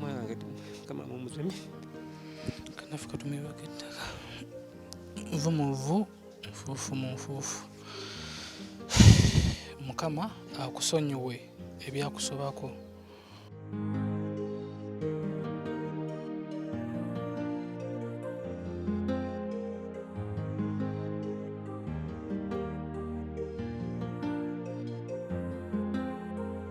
mwana kama mumuzemi kanafu katumibwa kettaka nvu mu nvu nfuufu mu nfuufu mukama akusonyiwe ebyakusobako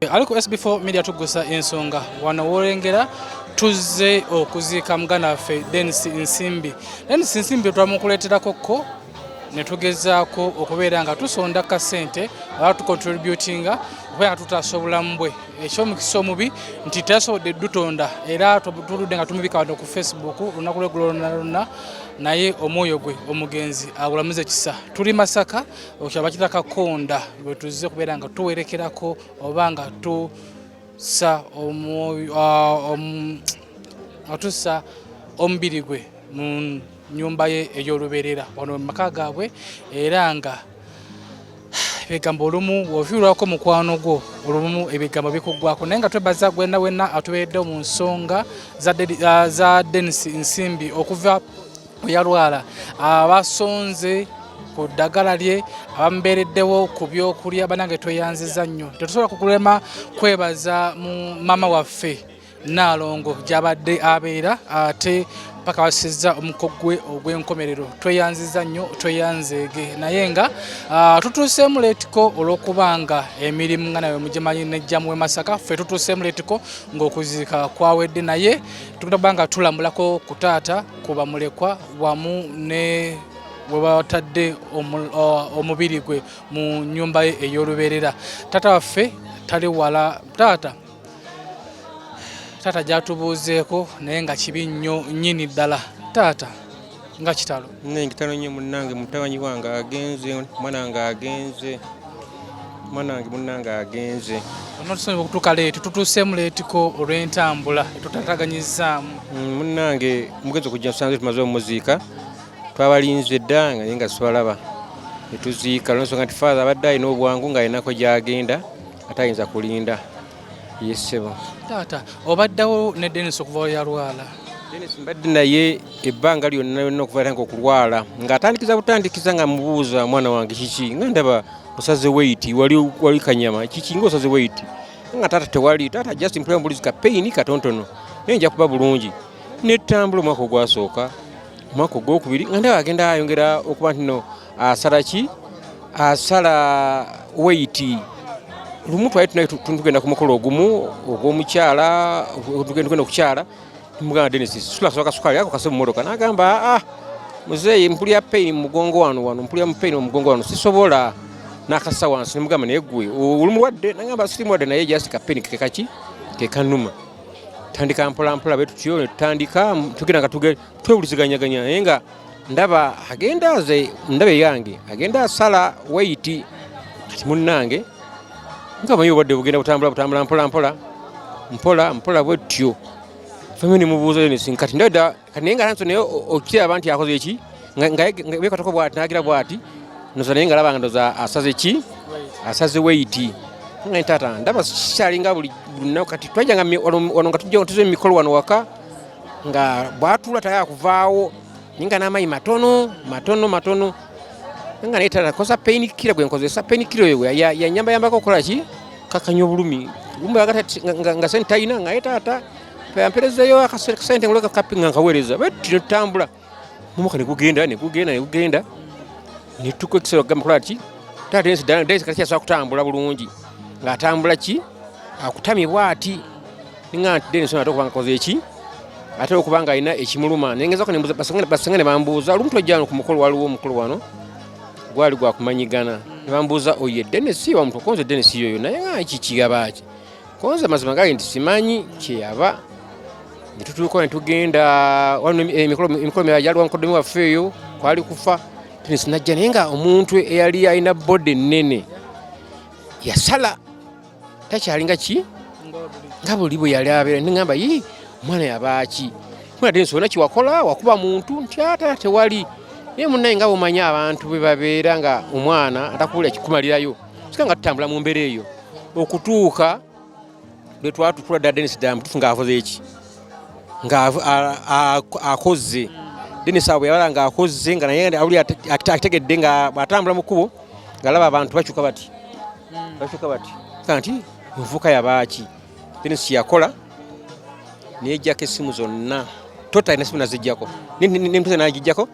Aliko SB4 media tugusa ensonga wano wolengera tuzze okuziika muganda waffe Denis Nsimbi. Denis Nsimbi twamukuleeterako ko ne tugezaako okubeera nga tusonda ka ssente oba tukontributinga okubeera nga tutaasa obulamu bwe ekyomukisa omubi nti tasobodde dutonda era tuludde nga tumubika wano ku facebook olunaku lwegulo lonna lonna naye omwoyo gwe omugenzi agulamuze kisa tuli masaka okyabakita kakonda bwetuze kubeera nga tuwerekerako oba nga tusa atusa omubiri gwe mu nyumba ye ey'olubeerera wano mu maka gaabwe era nga ebigambo olumu wofiirwako mukwano gwo olumu ebigambo bikuggwako naye nga twebaza gwena wena atubeereddewo mu nsonga za denis nsimbi okuva yalwala abasonze ku ddagala lye abamubeereddewo ku byokulya banange tweyanziza nnyo tetusobola kukulema kwebaza mu maama waffe naalongo gyabadde abeera ate paka basizza omuko gwe ogw'enkomerero tweyanziza nnyo tweyanzeege naye nga ah, tutuuseemu leetiko olw'okuba nga emirimu nga nawe mugimanyi nejjamu we masaka ffe tutuuseemu leetiko ng'okuziika kwawedde naye tugenda kuba nga tulambulako ku taata ku bamulekwa wamu ne we batadde omubiri gwe mu nnyumba ye ey'olubeerera taata waffe tali wala taata taata gyatubuuzeeko naye nga kibi nnyo nnyini ddala taata nga kitalo naye kitalo nnyo munnange mutabanyi wange agenze omwana wange agenze mwana wange munnange agenze onotusonyiwa okutuuka leeti tutuuseemu leetiko olw'entambula etutataganyizaamu mm, munnange mugezi okujja nsange tumaze omuziika twabalinze dda nga naye nga sibalaba etuziika lwensonga nti faaza abadde alina obwangu ng'alinako gy'agenda ate ayinza kulinda yesebo taata obaddawo ne denis okuvawo yalwala denis mbadde naye ebbanga lyonna yonna okuva tange okulwala ng'atandikiza butandikiza nga mubuuza mwana wange kiki nga ndaba osaze weyiti wali kanyama kiki nga osaze weyiti nga taata tewali taata just mpula mbulizi ka peyini katontono naye nja kuba bulungi netambula omwaka ogwasooka omwaka ogwokubiri nga ndaba agenda ayongera okuba ntino asala ki asala weiti lumu twali tunaye tugenda ku mukolo ogumu ogw'omukyala tugenda okukyala mugamba denis sulasoba kasukaali ako kase mumotoka nagamba aa ah, muzeeyi mpulira pain mumugongo wano wano mpulira mupain mumugongo wano sisobola nakasa wansi nemugamba naye gwe oli mulwadde nagamba siri mulwadde naye just kapeni kekaki kekanuma tandika mpolampola betutyo netutandika tugenda nga twewuliziganyaganya naye nga ndaba agenda aze ndaba eyange agenda asala wayiti kati munnange nga manyi obadde bugenda butambula butambula mpola mpola mpola mpola bwetyo famiyo nemubuuza yonesi kati ndada kati naye nga nanso naye okiraba nti akoze eki ngabekatoko bwati nagira bwati noza naye nga laba nga ndoza asaze ki asaze wayiti nga ntaata ndaba sikyalinga buli lunaku kati twajanga wano nga tujja tuze mumikolo wano waka nga bwatuula tayala kuvaawo ninga n'amayi matono matono matono nga naye talakosa pain killer gwe nkozesa pain killer ewe yanyamba yambako okola ki kakanya obulumi gumba agati nga sente talina nga ye taata amperezeyo akasente nguleka kapinga nkaweereza bwe tino tutambula mumuka negugenda negugenda negugenda netuka ekisero kugamba kola ki taata ensi dala daisy kati asobola kutambula bulungi ng'atambula ki akutamye bwati ninga nti denison ate okuba ngakoze eki ate okuba nga alina ekimuluma nengezako basenga ne bambuuza olumu twajjano ku mukolo waliwo omukolo wano gwali gwakumanyigana ne bambuuza oye denisi wamutukonze denisi yoyo naye nga kikigabaki konze mazima gali nti simanyi kyeyava netutuuka netugenda eh, emikolo mirala gyaliwa mukodomi waffe eyo kwali kufa sinajja naye nga omuntu eyali alina bode nene yasala takyalinga ki nga buli bwe yali abeera nengamba yi omwana yabaaki kunate nsona kiwakola wakuba muntu nti ata tewali naye munaye nga bumanya abantu bwe babeera nga omwana atakuwulira kikumalirayo sika nga tutambula mu mbeera eyo okutuuka lwe twatukula dda denis damu tufu ng'akoze eki ng'akozze denis abo yabala ng'akozze nga naye awuli akitegedde nga bw'atambula mu kkubo ng'alaba abantu bakyuka bati hmm. bakyuka bati kanti nvuka yabaaki denis kyeyakola neyejjako essimu zonna totalina simu nazijjako nemutuzanagijjako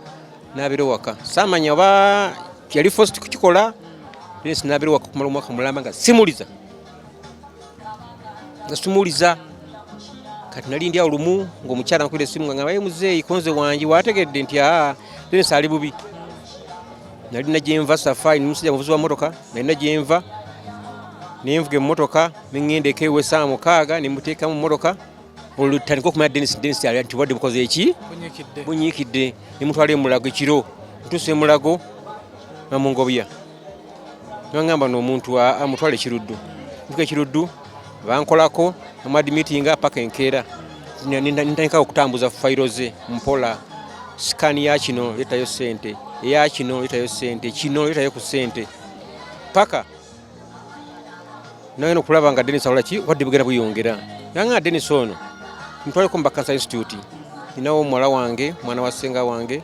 nabira owaka samanya oba yali fosi kukikola naye sinabira owaka okumala omwaka mulamba nga simuliza nga simuliza kati nali ndi awo lumu ngaomukyala nakubira esimu nga ngabaye muzeeyi konze wange wategedde nti aa then saali bubi nali nagyenva safai nomusajja muvuzi wa motoka nali nagyenva nenvuga emotoka nengenda eka ewesaawa mukaaga nemuteekamu motoka olutandika okumanya denis denis ali nti obadde bukoze eki bunyiikidde nemutwala emulago ekiro ntuusa emulago namungobya nangamba noomuntu amutwala ekiruddu ntuka ekiruddu bankolako amadimitinga paka enkeera nintandika okutambuza fayiro ze mpola sikani ya kino letayo sente eya kino letayo sente kino letayo ku sente paka naye nokulaba nga Dennis akola ki wadde bugenda buyongera nange nga Dennis ono mutwaleko mu Bakansa Institute ninawo omuwala wange mwana wa ssenga wange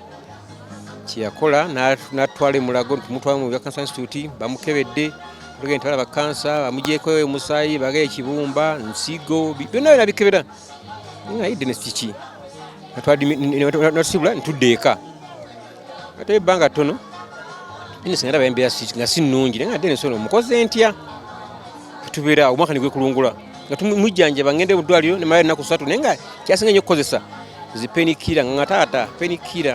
kyeyakola natwala emulago tumutwala mu Bakansa Institute bamukebedde tugenda twala bakansa bamugyeko omusaayi baga ekibumba nsigo byonna byona bikebera naye Dennis kiki natwala natubula ntudde eka ate ebbanga ttono singa ndaba embeera nga si nnungi naye nga dde ensolo mukoze ntya tubeera awo omwaka negwekulungula nga tumujjanjaba ngende mu ddwaliro nemala ennaku satu naye nga kyasinga nyo okukozesa zipenikira nga taata penikira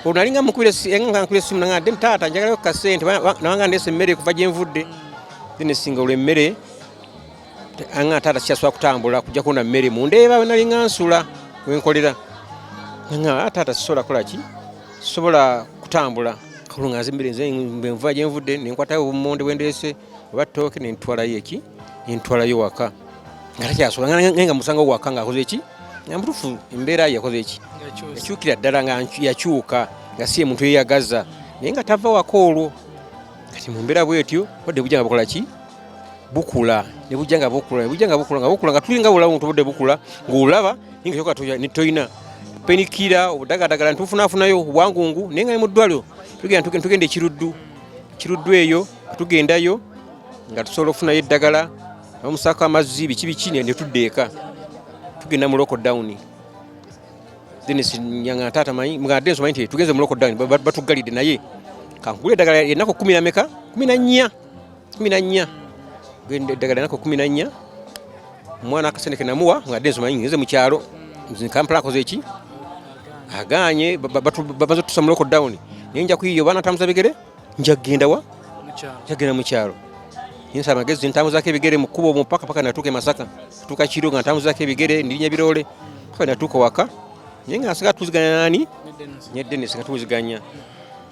olwo nalinga mukubira essimu nanga dde taata njagalayo kasente nabanga ndeesa emmere kuva gyenvudde then esinga olwo emmere anga taata sikyasula kutambula kujja kuona mmere mundeeba wenalinga nsula wenkolera nga taata sisobola kola ki sisobola kutambula kakulu nga nzimbire nze bwenvuba gyenvudde nenkwatayo obumonde bwendeese oba tooke nentwalayo eki nentwalayo waka nga takyasobola nga musanga waka ngaakoze eki nga mutufu embeera yakoze eki yakyukira ddala nga yakyuka nga si emuntu yeyagaza naye nga tava waka olwo kati mumbeera bwetyo odde bujanga bukola ki bukula ne bujja nga bukula ne bujja nga bukula nga bukula nga tulinga bulawo nga tubudde bukula ng'olaba naye nga kyoka toyina penikira obudagadagala ntufunafunayo obwangungu naye nga ne mu ddwaliro tugenda ekiruddu kiruddu eyo tugendayo nga tusobola okufunayo eddagala omusaako amazzi biki biki ne tudda eka tugenda mu loko dawuni nga taata manyi nga denso manyi nti tugeze mu loko dawuni batuggalidde naye kankugula eddagala enaku kumi nameka kumi na nnya kumi na nnya eddagala nako kumi na nnya omwana akasente kenamuwa nga denzo manyi ngeze mu kyalo kampala akoze eki aganye bamaze otutusa mu lockdown naye nja kuyiyo baana ntambuza bigere nja kugenda wa njagenda mu kyalo nyinsa amagezi ntambuzako ebigere mu kkubo omupaka paka natuuka e masaka tuuka kiro nga ntambuzako ebigere ndinya biroole paka natuuka waka naye nga nsiga tuziganya nani ne denis nga tuwuziganya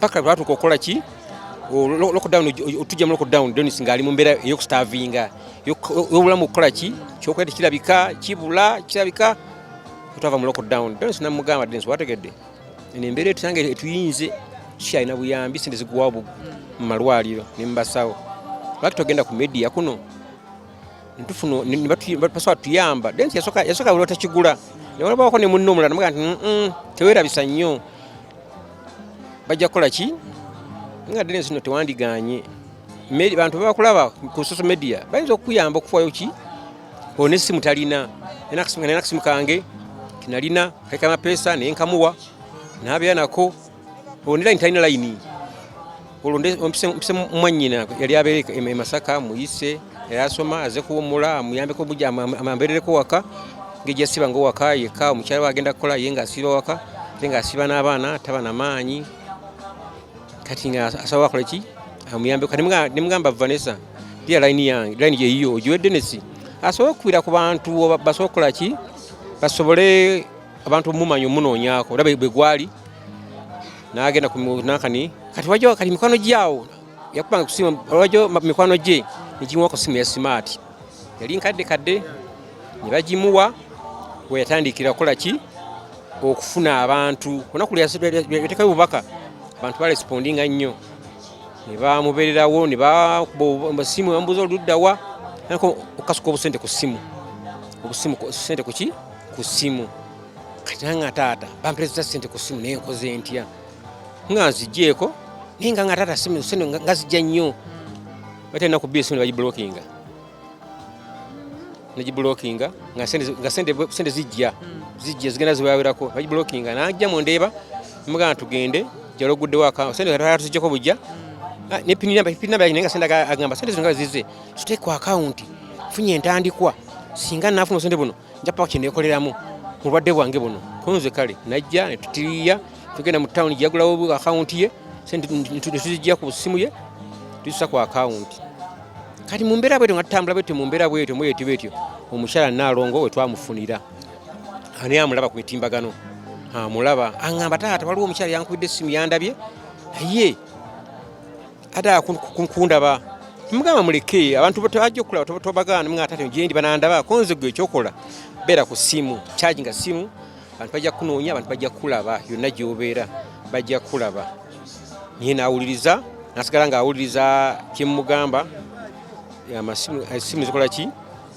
paka lwatuuka okukola ki lockdown otujja mu lockdown Dennis ng'ali mu mbeera ey'okustavinga y'obulamu okukola ki kyokuba nti kirabika kibula kirabika otwava mu lockdown Dennis namugamba Dennis wategedde eno embeera etusanga etuyinze kikyalina buyambi sente ziguwawo mu malwaliro ne mu basawo lwaki togenda ku media kuno ntufuna basobola tuyamba Dennis yasooka buli watakigula ne walabawako ne munno omulala namugaa nti tewerabisa nnyo bajja kukola ki nga ddene zino tewandiganye bantu bebakulaba ku social media bayinza okukuyamba okufayo ki one esimu talina nalina akasimu kange kinalina kaika mapeesa naye nkamuwa nabeera nako onelaini talina layini olwo mpise mwannyina yali abeera e, e masaka muyise era asoma aze kuwumula amuyambeko buja amamberereko waka ngejja siba nga owaka yekka omukyala we agenda kukola ye ng'asiiba waka ate ng'asiiba n'abaana taba na maanyi kati nga asaba akola ki amuyambeko kati nemugamba vanessa dia layini yange layini yeyiyo ogiwe denesi asobole okukubira ku bantu basobole okukola ki basobole abantu mumanya omunoonyaako olaba bwe gwali n'agenda ku nankani kati wajo kati mikwano gyawo yakubanga kusima wajo mikwano gye nigimuwa ku simu ya simaati yali nkadde kadde ne bagimuwa we yatandikira kukola ki okufuna abantu olunaku lweyatekayo obubaka abantu balespondinga nnyo ne bamubeererawo ne bakuba simu bamubuuza oluddawa okukasuka obusente ku simu obusimu sente kuki ku ssimu kati nange nga taata bampereza sente ku ssimu naye nkoze ntya nga nzigyeko naye nga nga taata simu sente nga zijja nnyo batalina ku bisimu ne bagibulokinga negibulokinga nga sente zijja zijja zigenda zibawerako bagibulokinga najja mundeeba mugana tugende jala oguddewo sente tuzijjako bujja ah, nepininabainenga sente agamba sente zino nga zize tuteekwa akawunti funye entandikwa singa nafuna obusente buno nja paka kyenekoleramu mulwadde bwange buno kunze kale najja netutiriya tugenda mu tawuni gyeyagulawo akawunti ye sente netuzijja ku simu ye tusa ku akawunti kati mu mbeera bwetyo nga tutambula bwetyo mu mbeera bwetyo mwetyo bwetyo omukyala naalongo we twamufunira ani amulaba ku mitimbagano amulaba aŋamba taata waliwo omukyala yankubidde essimu yandabye ye ate kundaba mugamba muleke abantu bajja okulaba tobagaana mwe atate gyendi banandaba konze gwe ekyokola beera ku ssimu charginga ssimu abantu bajja kunoonya abantu bajja kulaba yonna gyobeera bajja kulaba naye nawuliriza nasigala nga awuliriza kyemugamba esimu eh, zikola ki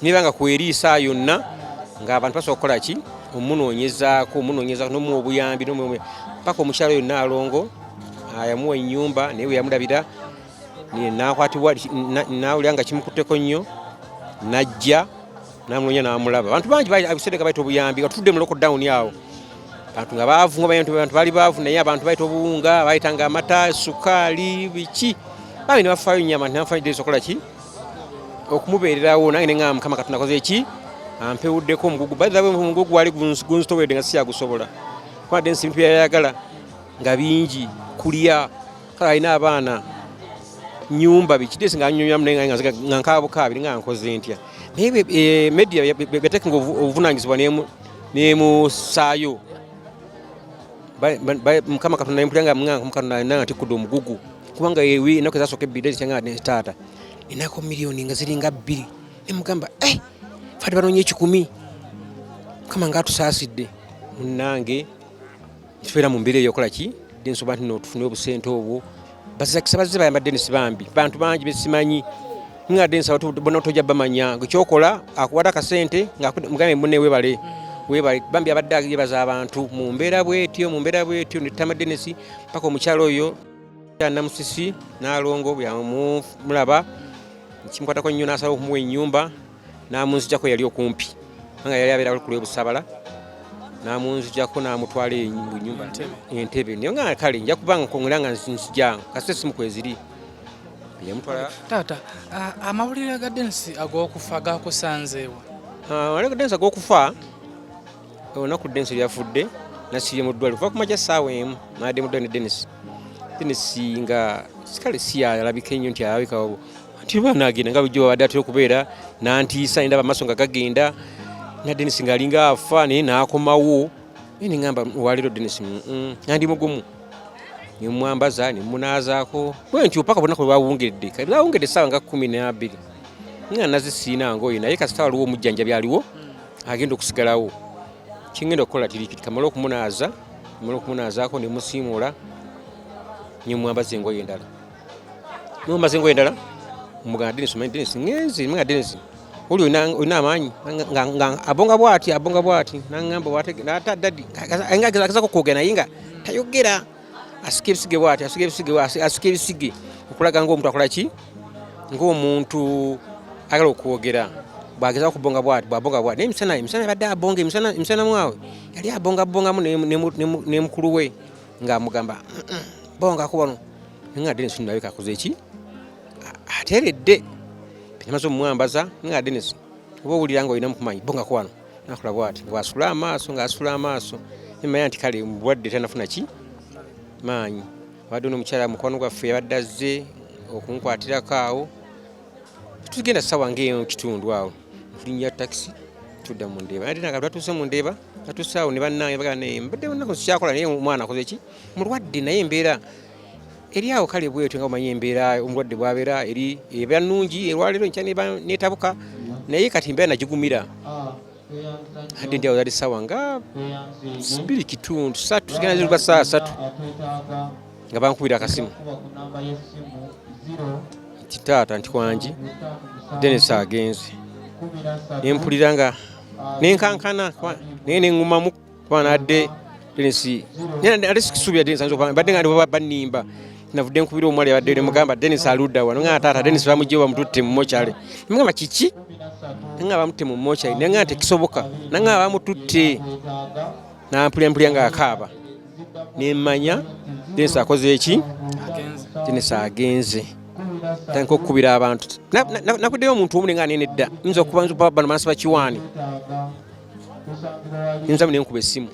niba nga kweriisa yonna ng'abantu basobola kukola ki omunoonyezaako omunoonyezaako nomuwa obuyambi paka omukyalo oyo naalongo yamuwa ennyumba naye bwe yamulabira nakwatibwa nawulira nga kimukutteko nnyo najja namunoonya namulaba abantu bangi abisedeka baita obuyambi nga tutudde mu lockdown awo bantu nga baavu nga bantu baali baavu naye abantu baita obuwunga baitanga amata sukaali biki bambi ne bafaayo nnyo abantu nebafayo desi okola ki okumubeererawo nange neŋaa mukama katonda koze eki ampewuddeko omugugu bawe omugugu wali gunzitowedde nga siyagusobola kubadde nsi bintu byayayagala nga bingi kulya kale alina abaana nyumba bikidesi nga anyonyamu naye nga nkabukaabiri nga nkoze ntya naye eh, media yatekenga obuvunanyizibwa nemusaayo mukama katonda yempulira nga munganga mukatonda nanga ntikudde omugugu kubanga ewi enaku ezasooka ebbiri ezikyanga ne taata enako miliyoni nga ziringa bbiri nemugamba eh, fati banoonya ekikumi mukama nga atusaasidde munnange nitubeera mu mbeera eyokola ki densoba nti notufunire obusente obwo bazakisa bazze bayamba denisi bambi bantu bangi besimanyi nga denisi bona tojja bamanya kyokola akuwata akasente ngamugambe mune webale webale bambi abadde agebaza abantu mu mbeera bwetyo mu mbeera bwetyo netama denisi paka omukyalo oyo namusisi nalongo bwamulaba kimukwatako nnyo nasaba okumuwa enyumba n'amunzijako yali okumpi nga yali abeera ku lwebusabala namunzijako namutwala enyumba entebe naye nga kale nja kubanga kongera nga nzijanga kasita esimu kweziri taata amawulire ga densi agokufa gakusanzeewa amawulire ga densi agokufa olunaku densi lyafudde nasibye mu ddwaliro kuva kumaja saawa emu nadde mu ddwaliro ne denisi denisi nga kale si alabika ennyo nti alabika nti omwana agenda nga bulijjo babadde atera okubeera nantiisa nendaba amaaso nga gagenda na denis ngaalinga afa naye naakomawo naye neŋamba waleero denis nandi mugumu nemwambaza nemunaazaako bwentyo paka bonaku lwebawungedde kati lwawungedde essaawa nga kumi nabiri nga nazisiina ngoyo naye kasita waliwo omujjanjabi aliwo agenda okusigalawo kingenda okukola tirikiti kamala okumunaaza kamala okumunaazaako nemusiimuula nemwambaza engoyo endala nomba zingo endala mugana Dennis manyi Dennis ngenzi mga Dennis uli olina amaanyi abonga bwati abonga bwati nangamba ata dadi agezako kwogera naye nga tayogera asika ebisige bwati asika ebisige asika ebisige okulaga ngaomuntu akola ki ngaomuntu agala okwogera bwageza okubonga bwati bwabonga bwati naye emisana emisana yabadde abonga emisana mwawe yali abonga bongamu ne mukulu we nga amugamba bonga kubano nga Dennis nalabika akoze ki ateredde namaze omumwambaza nga Dennis oba owulira nga olina mukumanyi bonga kubano nakola bwati nga wasula amaaso nga asula amaaso nemanya nti kale mubwadde tanafuna ki maanyi abadde ono omukyala mukwano gwaffe yabadde azze okunkwatirako awo tugenda sawa ngaeyo kitundu awo tulinya takisi tudda mu ndeeba ate naga lwatuuse mu ndeeba atusaawo ne bannange bagamba naye mbadde nako sikyakola naye omwana akoze ki mulwadde naye embeera eri awo kale bwetyo nga omanyi embeera omulwadde bwabeera eri eba nnungi erwaleero nkya netabuka naye kati mbeera nagigumira hadde ndi awo zali sawa nga biri kitundu satu zigenda ziruka saa satu nga bankubira akasimu nti taata nti kwangi denesi agenze nempulira nga nenkankana naye nengumamu kuba nadde denisi ate sikisuubira denisi ayinza okuba badde nga ndibo banimba navudde nkubira omwali abadde nemugamba denisi aludda wano nga taata denisi bamugyewo bamututte mu mochale nemugamba kiki nanga bamutte mu mochale naye nga tekisoboka nanga bamututte nampulyampulya nga akaaba nemmanya densi akoze eki denisi agenze tandika okukubira abantu nakuddeyo omuntu omu nenga nene dda nyinza okubanbano manasi bakiwaani nyinza mu nenkuba essimu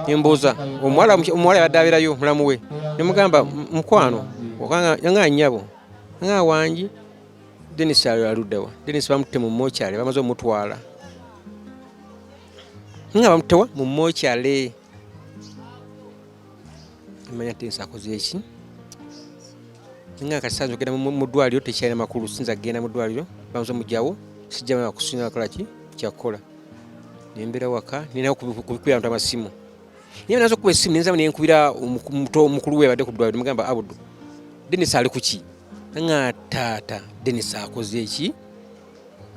nembuuza omuwala yabadde abeerayo mulamu we nemugamba mukwano nga nyabo nga wangi denisi aluddawa denisi bamutte mu mokyale bamaze omutwala nga bamutewa mu mokyale manya tensi akoze eki nga kati sanza okugenda mu ddwaliro tekyalina makulu sinza kugenda mu ddwaliro banza omugyawo sijjamala kusinga kola ki kyakukola nembera waka nina kubikubira bantu amasimu naye naza okuba esimu nenzaba nenkubira omukulu we abadde ku ddwaliro mugamba abudu denis ali kuki nga taata denis akoze eki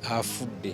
afudde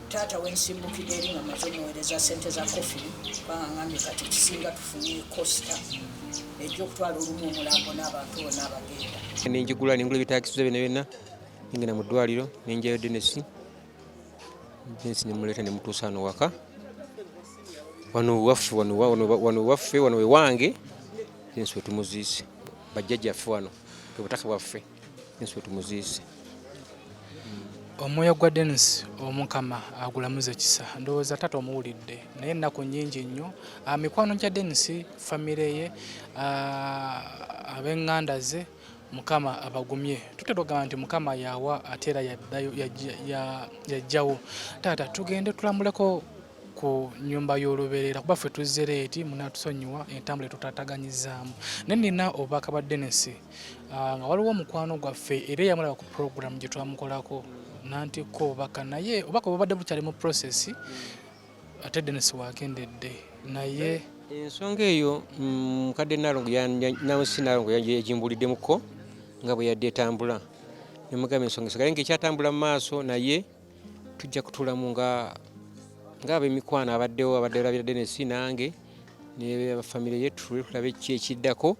taata wensimbukidde eri nga maze omuweereza sente za kofi kubanga ngambye kati kisinga tufunye costa ejja okutwala olumu omulambo n'abantu bona abagenda nenjigula nengula ebitakisiza byona byonna nengenda mu ddwaliro nenjayo denesi denesi nemuleeta nemutuusa ano waka wano waffe wano waffe wano wewange denesi wetumuziise bajjajjaffe wano bwe butaka bwaffe Yesu tumuziise. Omwoyo gwa Dennis omukama agulamuza ekisa ndowooza tata omuwulidde naye ennaku nnyingi nnyo ah, mikwano gya Dennis famire ye ah, ab'eŋŋanda ze mukama abagumye tutera okugamba nti mukama yawa ate era yajjawo taata tugende tulambuleko ku nyumba y'olubeerera kuba ffe tuzzereeti munatusonyiwa entambula etutataganyizaamu naye nina obubaka bwa Dennis ah, nga waliwo omukwano gwaffe era eyamulaba ku puroguramu gye twamukolako nantikko obubaka naye obubaka bubadde bukyali mu process ate denisi wakendedde naye ensonga eyo mm, mukadde nalongo nansi nalongo yagimbuliddemukko nga bwe yadde etambula nemugamba ensonga esagaye nga ekyatambula mu maaso naye tujja kutulamu nga ngaabemikwano abaddewo abadde olabira denesi nange ne famire ye tulwe tulabe ki ekiddako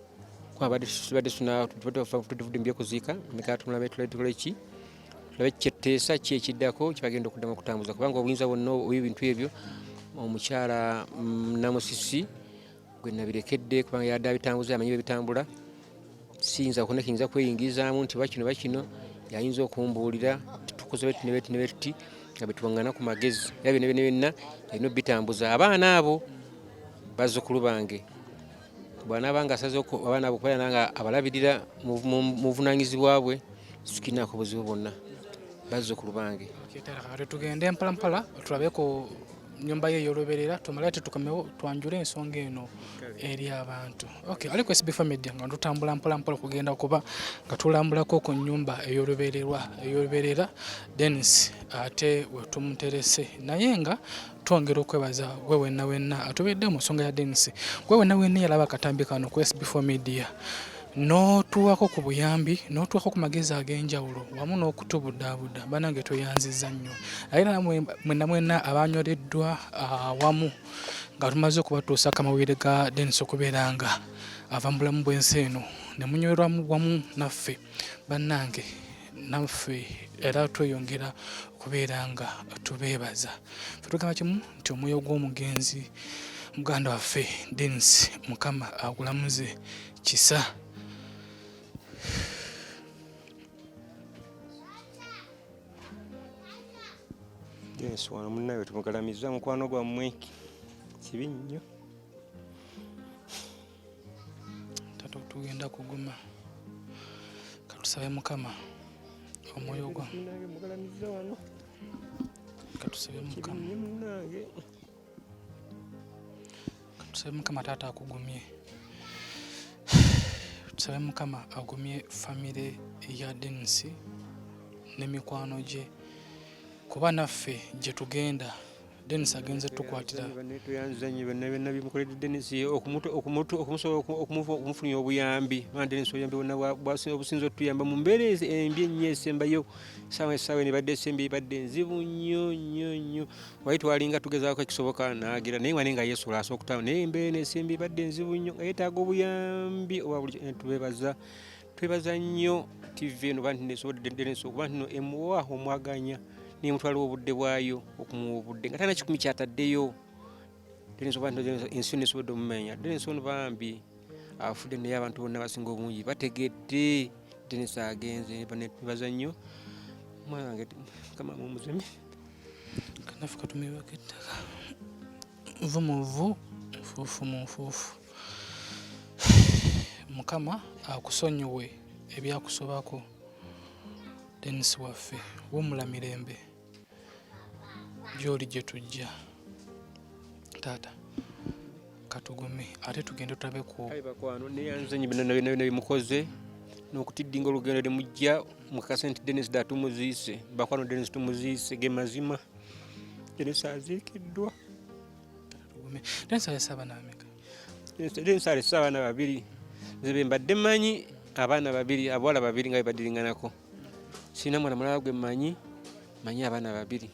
kwabadde tubadde tudimbye kuziika mekatumulabe tuletule ki tulabe kyetteesa ki ekiddako kyebagenda okuddamu okutambuza kubanga obuyinza bwonna obwebintu ebyo omukyala mm, namusisi gwe nabirekedde kubanga yadde abitambuza amanyi bebitambula siyinza kona kiyinza kweyingizaamu nti bakino bakino yayinza okumbuulira tukoze beti nebeti nebeti nga betwangana ku magezi era byona byona byonna yalina obitambuza abaana abo bazzukulu bange bwanaba nga asaze abaana bokubeera nanga abalabirira muvunanyizibwa bwe situkirinaako buzibu bwonna bazzukulu bange tugende mpalampala tulabe ku nyumba ye ey'olubeerera tumale tetukomewo twanjule ensonga eno eri abantu okay aliko sbf media nga tutambula mpolampola okugenda kuba nga tulambulako ku nyumba ey'olubeererwa ey'olubeerera denis ate wetumuterese naye nga twongera okwebaza gwe wenna wenna atubedde mu nsonga ya denisi gwe wenna wenna yalaba akatambi kano ku sb4 media n'otuwako ku buyambi n'otuwako ku magezi ag'enjawulo wamu n'okutubudaabuda banange tweyanziza nnyo naye era mwenna mwenna abanyoleddwa ah, wamu nga tumaze okubatuusa akamawulire ga denisi okubeera nga ava mu bulamu bw'ensi eno ne munyolerwamu wamu naffe bannange naffe era tweyongera okubeera nga tubeebaza fe tugamba kimu nti omwoyo gw'omugenzi muganda waffe denis mukama agulamuze kisa denis wano munnawe tumugalamiza mukwano gwammwe kibi nnyo tato tugenda kuguma katusabe mukama omwoyo gwa katusabe mukama katusabe mukama taata akugumye tusabe mukama agumye famire ya denisi n'emikwano gye kuba naffe gye tugenda Dennis agenze tukwatira tuyanzanye bena bena bimukolede Dennis okumuto okumuto okumusobola okumufunya obuyambi ma Dennis oyambi wona bwasi obusinzo tuyamba mu mbere embi ennyo esembayo sawa sawa ne badde sembi badde nzibu nnyo nnyo nnyo wali twalinga tugezaako ekisoboka naagira naye wali nga Yesu lasa okutawo naye mbere ne sembi badde nzibu nnyo yetaaga obuyambi owa buli tubebaza twebaza nnyo tv eno bantu nesoboddeneso kuba ntino emuwa omwaganya nemutwaliwo obudde bwayo okumuwa obudde nga tana kikumi kyataddeyo ensi nesobodde omumenya denensi ono bambi afudde naye abantu bonna basinga obungi bategedde denensi agenze nebaza nnyo omwana wange kama mumuzemi kanafuka tumiwako ettaka nvu mu vvu nfuufu mu nfuufu mukama akusonyiwe ebyakusobako denis waffe wumula mirembe gyoli gye tujja taata katugume ate tugende tulabe ku bakwano neyanzenyi binabimukoze nokutiddinga olugendo limujja mukakase nti denis da tumuziise bakwano denis tumuziise ge mazima Teresa aziikiddwa. Teresa alese abaana bameka? Teresa alese abaana babiri nze be mbadde mmanyi abaana babiri abawala babiri nga bebadiringanako sirina mwana mulala gwe mmanyi manyi abaana babiri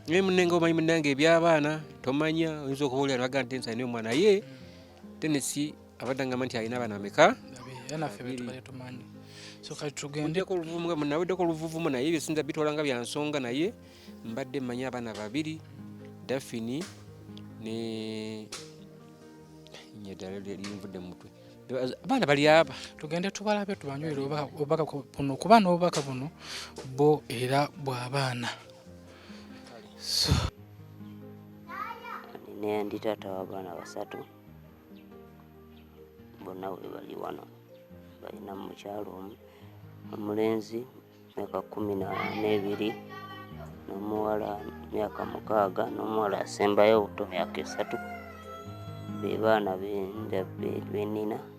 naye munenga omanyi munange ebyabaana tomanya oyinza okuba olya nabaga nti nsalina omwana ye tenesi abadde angamba nti alina abaana bameka naweddeko oluvuvumu naye byesinza bitwala nga byansonga naye mbadde mmanyi abaana babiri dafini ne nyedala lyerinvudde mumutwe abaana bali aba tugende tubalabe tubanywere obubaka buno kuba n'obubaka buno bo era bw'abaana So. Nina ndi taata w'abaana basatu bonna we bali wano balina mu mukyalo omu omulenzi myaka kumi n'ebiri n'omuwala myaka mukaaga n'omuwala asembayo obuto myaka esatu be baana benina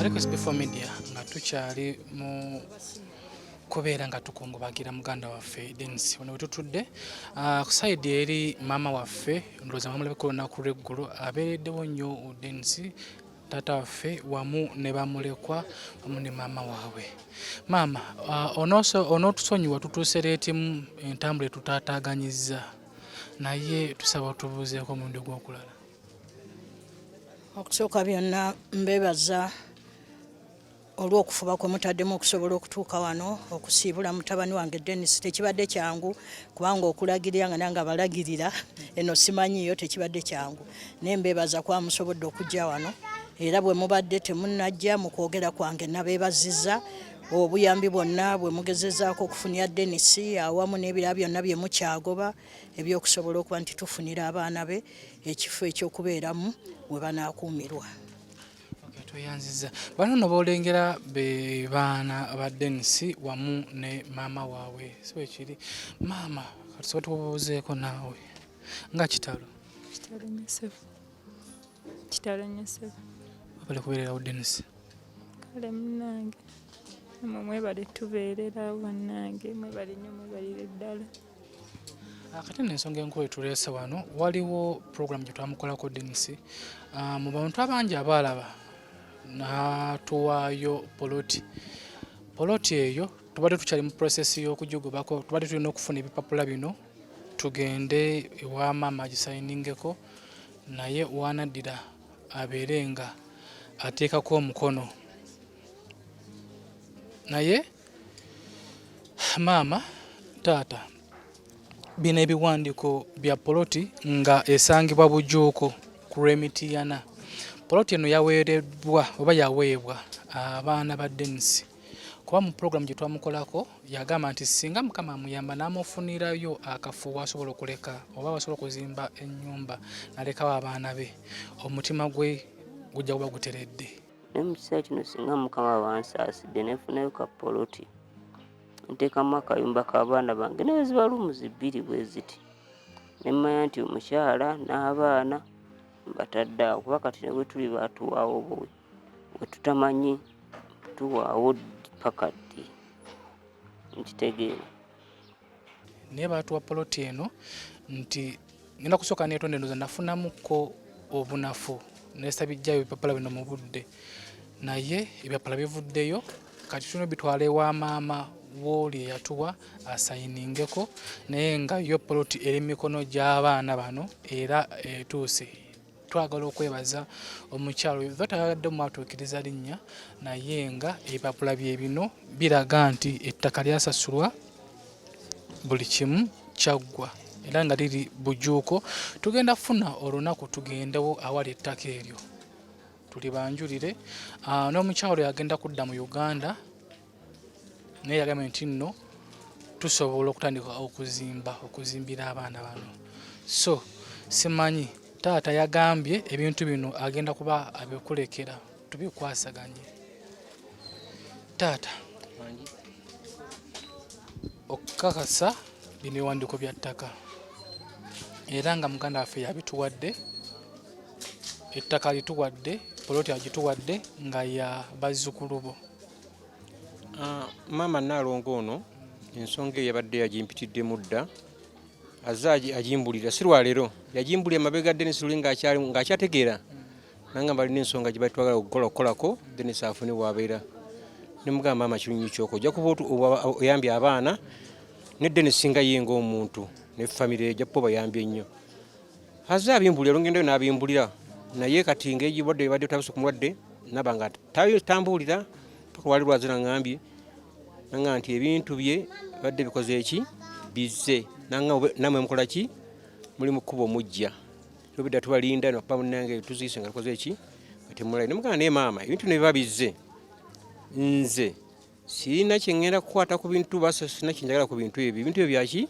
ariko sbefo media nga tukyali mu kubeera nga tukungubagira muganda waffe denis wano wetutudde ah, ku saidi eri maama waffe ndowooza mwamulabika olunaku lweggulo abeereddewo nnyo denis taata waffe wamu ne bamulekwa wamu ne maama waabwe maama uh, onootusonyiwa tutuuse leetimu entambula etutaataaganyizza naye tusaba otubuuzeeko omulundi ogwokulala okusooka byonna mbebaza olw'okufuba kwe mutaddemu okusobola okutuuka wano okusiibula mutabani wange Dennis tekibadde kyangu kubanga okulagirira nga nange abalagirira eno simanyiyo tekibadde kyangu naye mbeebaza kuba musobodde okujja wano era bwe mubadde temunajja mu kwogera kwange nabeebazizza obuyambi bwonna bwe mugezezaako okufunira Dennis awamu n'ebirala byonna bye mukyagoba eby'okusobola okuba nti tufunira abaana be ekifo eky'okubeeramu we banaakuumirwa. tweyanziza bano no bolengera be baana ba Dennis wamu ne maama waabwe si bwe kiri maama katusobola tubuuzeeko naawe nga kitalo kitalo nnyo ssebo kitalo nnyo ssebo webale kubeererawo Dennis kale munnange mwe mwebale tubeererawo bannange mwebale nnyo mwebalire ddala Ah, kati no ensonga enkulu etuleese wano waliwo puroguramu gye twamukolako denisi ah, mu bantu abangi abaalaba natuwaayo poloti poloti eyo tubadde tukyali mu prosesi y'okujugubako tubadde tulina okufuna ebipapula bino tugende ewa maama agisayiningeko naye wanaddira abeere nga ateekako omukono naye Maama taata bino ebiwandiiko bya poloti nga esangibwa Bujuuko ku lw'Emityana. Poloti eno yaweereddwa oba yaweebwa abaana ba Denisi kuba mu pulogulaamu gye twamukolako yagamba nti singa mukama amuyamba n'amufunirayo akafo wasobola okuleka oba wasobola okuzimba ennyumba nalekawo abaana be omutima gwe gujja kuba guteredde. naye mu kiseera kino singa mukama wansaasidde nefunayo ka poloti nteekamu akayumba k'abaana bange naye ziba lumuzi bbiri bwe ziti ne mmanya nti omukyala n'abaana mbatadde awo kuba kati ne bwe tuli baatuwaawo buwi bwe tutamanyi tuwaawo pakaddi nkitegeera naye baatuwa poloti eno nti ngenda kusooka neetonda endoza nafunamuko obunafu nesabijjayo ebipapula bino mu budde naye ebyapala bivuddeyo kati tulina bitwala ewa maama wooli eyatuwa asayiningeko naye nga yo poloti eri mikono gy'abaana bano era etuuse twagala okwebaza omukyalo oyo batayagadde mwatuukiriza linnya naye nga ebipapula bye bino biraga nti ettaka lyasasulwa buli kimu kyaggwa era nga liri bujuuko tugenda kufuna olunaku tugendewo awali ettaka eryo tulibanjulire ah, n'omukyalo yagenda kudda mu uganda naye yagambye nti nno tusobola okutandika okuzimba okuzimbira abaana bano so simanyi taata yagambye ebintu bino agenda kuba abikulekera tubikwasaganye taata okukakasa bino ewandiiko bya ttaka era nga muganda waffe yabituwadde ettaka lituwadde poloti agituwadde nga ya bazzukulu bo Ah, maama Nnaalongo ono ensonga eyo yabadde yagimpitiddemu dda azze agimbulira si lwaleero yagimbulira mabega Denis Luli ng'akyategeera nanga balina ensonga gye batwagala okukola okukolako Denis afune wabeera ne mugamba maama kinyonyi kyoko ojja kuba oyambye abaana ne Denis singa ye ng'omuntu ne famire ejja kuba bayambye nnyo azze abimbulira olugendo yo n'abimbulira naye kati ng'egibadde ebadde otabuse ku mulwadde naba nga tambuulira paka wali lwaze nangambye nanga nti ebintu bye badde bikoze eki bizze nanga namwe mukola ki muli mu kkubo mujja tobidda tubalinda nokuba munange tuziise nga tukoze eki nga temulai naye maama ebintu ne biba bizze nze sirina kyeŋŋenda kukwata ku bintu basa sirina kyenjagala ku bintu ebyo ebintu ebyo byaki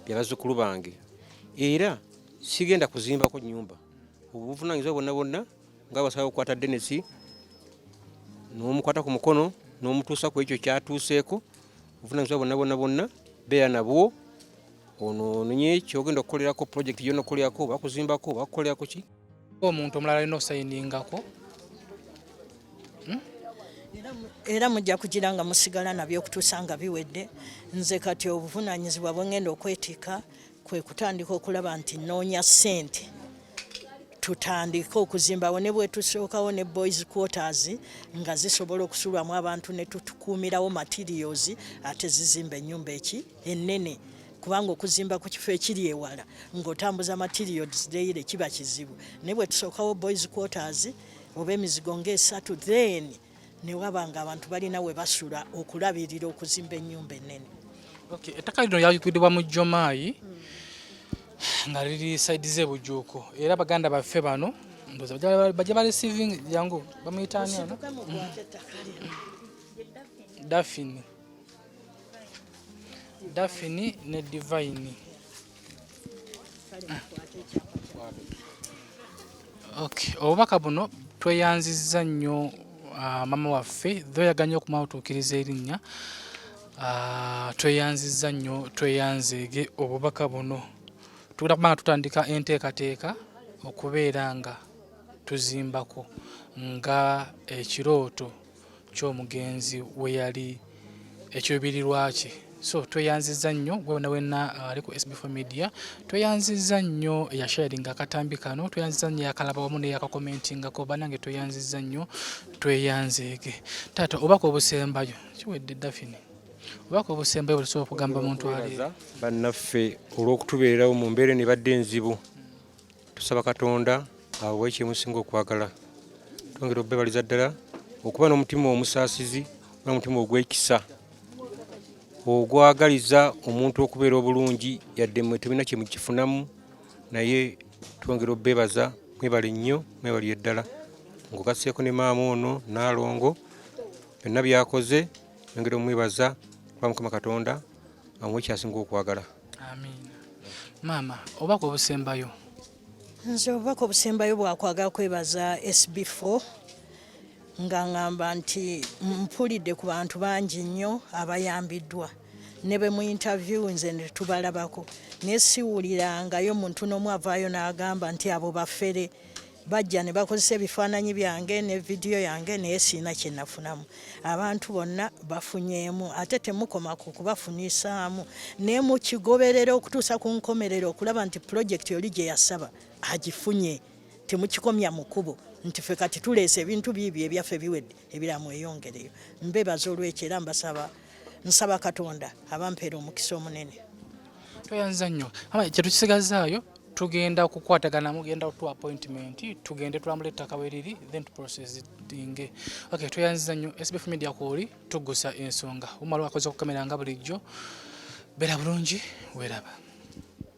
bya bazzukulu bange era sigenda kuzimbako nnyumba obuvunaanyizibwa bonna bonna nga basaba okukwata denesi n'omukwata ku mukono n'omutuusa ku ekyo kyatuuseeko obuvunaanyizibwa bonna bonna bonna beera nabwo ono ononye kyogenda okukolerako pulojekiti gyona okukolerako oba kuzimbako oba kukolerako ki omuntu omulala alina okusayiningako hmm? era mujja kugira nga musigala nabyo okutuusa nga biwedde nze kati obuvunaanyizibwa bwe ngenda okwetika kwe kutandika okulaba nti nnoonya ssente tutandike okuzimbawo ne bwetusookawo ne boys quarters nga zisobola okusulwamu abantu ne tutukuumirawo materials ate zizimba ennyumba eki ennene kubanga okuzimba ku kifo ekiri ewala ng'otambuza materials daily kiba kizibu naye bwe tusookawo boys quarters oba emizigo ng'esatu then ne waba nga abantu balina we basula okulabirira okuzimba ennyumba ennene okay. ettaka lino lyayugidibwa mu jomaayi hmm. nga liri saidi ze bujuuko era baganda baffe bano ndoza bajja balisivingi jangu bamuyitaani ano dafini dafini ne divayini okay. obubaka buno tweyanzizza nnyo uh, mama waffe thoyaga nnyo okumawutuukiriza erinnya uh, tweyanzizza nnyo tweyanzeege obubaka buno tugenda kubanga tutandika enteekateeka okubeera nga tuzimbako nga ekirooto ky'omugenzi we yali ekiruubirirwa kye so tweyanziza nnyo wena wena uh, ali ku SB4 media tweyanziza nnyo eyasharinga akatambi kano tweyanziza nnyo yakalaba wamu neyakakomentingako banange tweyanziza nnyo tweyanzeege taata obaka obusembayo kiwedde dafini obaka obusembayo bulisobola okugamba muntu ali bannaffe olw'okutubeerawo mu mbeera nebadde enzibu tusaba katonda awe ekyemusinga okwagala twongera obebaliza ddala okuba n'omutima omusaasizi n'omutima ogwekisa ogwagaliza omuntu okubeera obulungi yadde mwe tebina kyemukifunamu naye twongera obebaza mwebale nnyo mwebalire ddala ngugaseeko ne maama ono naalongo byonna byakoze yongera omwebaza kuba mukama katonda amuwe kyasinga okwagala amiina maama obubaka obusembayo nze obubaka obusembayo bwakwagala kwebaza sb4 nga ngamba nti mpulidde ku bantu bangi nnyo abayambiddwa ne be mu interview nze netubalabako naye siwulirangayo muntu n'omu avaayo n'agamba nti abo bafere bajja ne bakozesa ebifaananyi byange ne vidiyo yange naye sirina kye nafunamu abantu bonna bafunyeemu ate temukoma ku kubafunisaamu naye mukigoberera okutuusa ku nkomerero okulaba nti pulojekiti oli gye yasaba agifunye temukikomya mu kubo nti fe kati tuleese ebintu biibyo ebyaffe biwedde ebiramu eyongereyo mbebaza olwekyo era mbasaba nsaba katonda abampeera omukisa omunene tweyanza nnyo kyetukisigazaayo tugenda kukwatagana mugenda tu appointment tugende tulambula ettaka weriri then to process tuddinge okay tweyanziza nnyo SBF Media kwoli tuggusa ensonga umala wakoze okukamera nga bulijjo beera bulungi weeraba